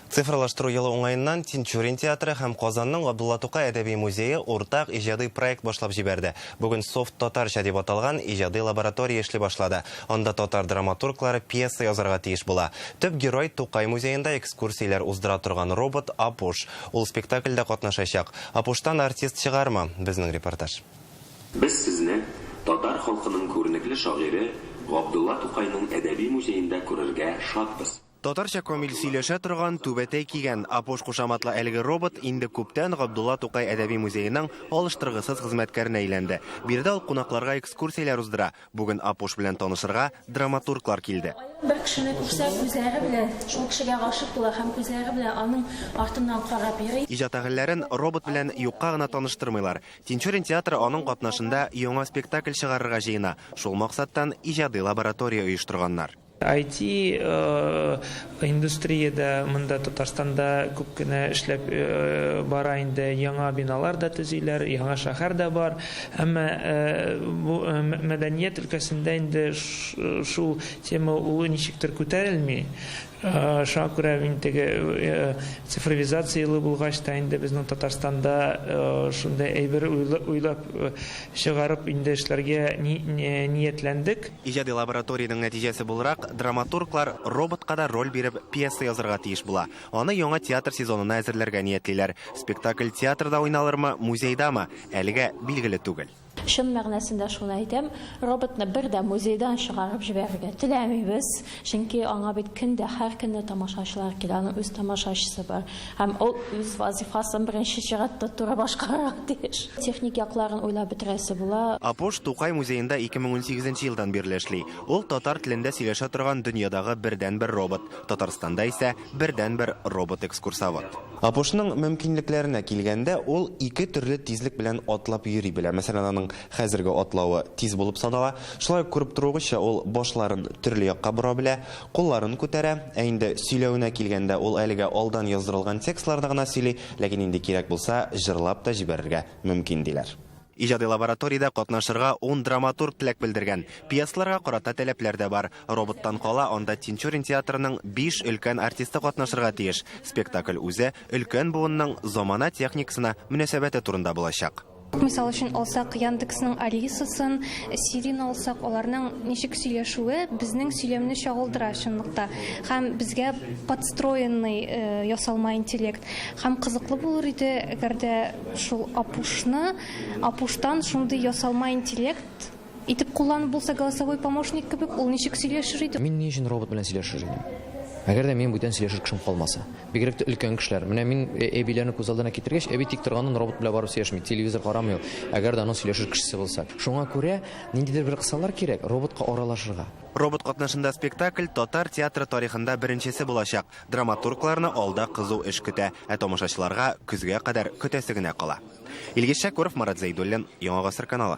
Цифрлаштыру елы уңаеннан Тинчурин театры һәм Казанның Габдулла Тукай әдәби музее уртак иҗади проект башлап җибәрде. Бүген Софт Татарча дип аталган иҗади лаборатория эшли башлады. Анда татар драматурглары пьеса язарга тиеш була. Төп герой, Тукай музеенда экскурсияләр уздыра торган робот Апуш. Ул спектакльдә катнашачак. Апуштан артист чыгармы? Безнең репортаж. Без сезне татар халкының күренекле шагыйре Габдулла Тукайның әдәби музеенда күрергә шатбыз. Татарча камил сөйләшә торган, түбәтәй кигән, апош кушаматлы әлеге робот инде күптән Габдулла Тукай әдәби музееның алыштыргысыз хезмәткәренә әйләнде. Биредә ул кунакларга экскурсияләр уздыра. Бүген апош белән танышырга драматурглар килде. Ул бер кешене күрсә, күзләре белән шул кешегә гашыйк була һәм күзләре белән аның артыннан карап йөри. Иҗат әһелләрен робот белән юкка гына таныштырмыйлар. Тинчурин театры аның катнашында яңа спектакль чыгарырга җыена. Шул максаттан иҗади лаборатория оештырганнар. IT индустрия дә монда Татарстанда күп кенә эшләп бара инде, яңа биналар да төзиләр, яңа шәһәр дә бар. Әмма бу мәдәният өлкәсендә инде шул тема улы ничектер күтәрелми. Шуңа күрә мин теге цифровизация елы булгач та инде безнең Татарстанда шундый әйбер уйлап чыгарып инде эшләргә ниятләндек. Иҗади лабораториянең нәтиҗәсе буларак, драматурглар роботка да роль биреп, пьеса язарга тиеш була. Аны яңа театр сезонына әзерләргә ниятлиләр. Спектакль театрда уйналырмы, музейдамы, әлегә билгеле түгел. Чын мәгънәсендә шуны әйтәм, роботны бер дә музейдан чыгарып җибәрергә теләмибез. Чөнки аңа бит көн дә, һәр көнне тамашачылар килә, аның үз тамашачысы бар. Һәм ул үз вазифасын беренче чиратта туры башкарырга тиеш. Техник якларын уйлап бетерәсе була. Апуш Тукай музеенда 2018 нче елдан бирле эшли. Ул татар телендә сөйләшә торган дөньядагы бердәнбер робот, Татарстанда исә бердәнбер робот-экскурсовод. Апушның мөмкинлекләренә килгәндә, ул ике төрле тизлек белән атлап йөри белә. Мәсәлән, аның Хәзерге атлавы тиз булып санала, шулай ук күреп торуыгызча, ул башларын төрле якка бора белә, кулларын күтәрә. Ә инде сөйләвенә килгәндә, ул әлегә алдан яздырылган текстларда гына сөйли, ләкин инде кирәк булса, җырлап та җибәрергә мөмкин, диләр. Иҗади лабораториядә катнашырга ун драматург теләк белдергән. Пьесаларга карата таләпләр дә бар. Роботтан кала, анда Тинчурин театрының биш өлкән артисты катнашырга тиеш. Спектакль үзе өлкән буынның замана техникасына мөнәсәбәте турында булачак. Мисал өчен алсак, Яндексның Алисасын, Сирин алсак, аларның ничек сөйләшүе безнең сөйләмне чагылдыра чынлыкта. Һәм безгә подстроенный ясалма интеллект. Һәм кызыклы булыр иде, әгәр дә шул Апушны, Апуштан шундый ясалма интеллект Итеп кулланып булса, голосовой помощник кебек, ул ничек сөйләшер иде? Мин ни өчен робот белән сөйләшер идем? Әгәр дә минем бүтән сөйләшер кешем калмаса. Бигрәк тә өлкән кешеләр. Менә мин әбиләрне күз алдына китергәч, әби тик торганнан робот белән барып сөйләшми, телевизор карамый ул, әгәр дә аның сөйләшер кешесе булса. Шуңа күрә ниндидер бер кысалар кирәк, роботка аралашырга. Робот катнашында спектакль татар театры тарихында беренчесе булачак. Драматургларны алда кызу эш көтә, ә тамашачыларга көзгә кадәр көтәсе генә кала. Илгиз Шәкүров, Марат Зәйдуллин, Яңа гасыр каналы.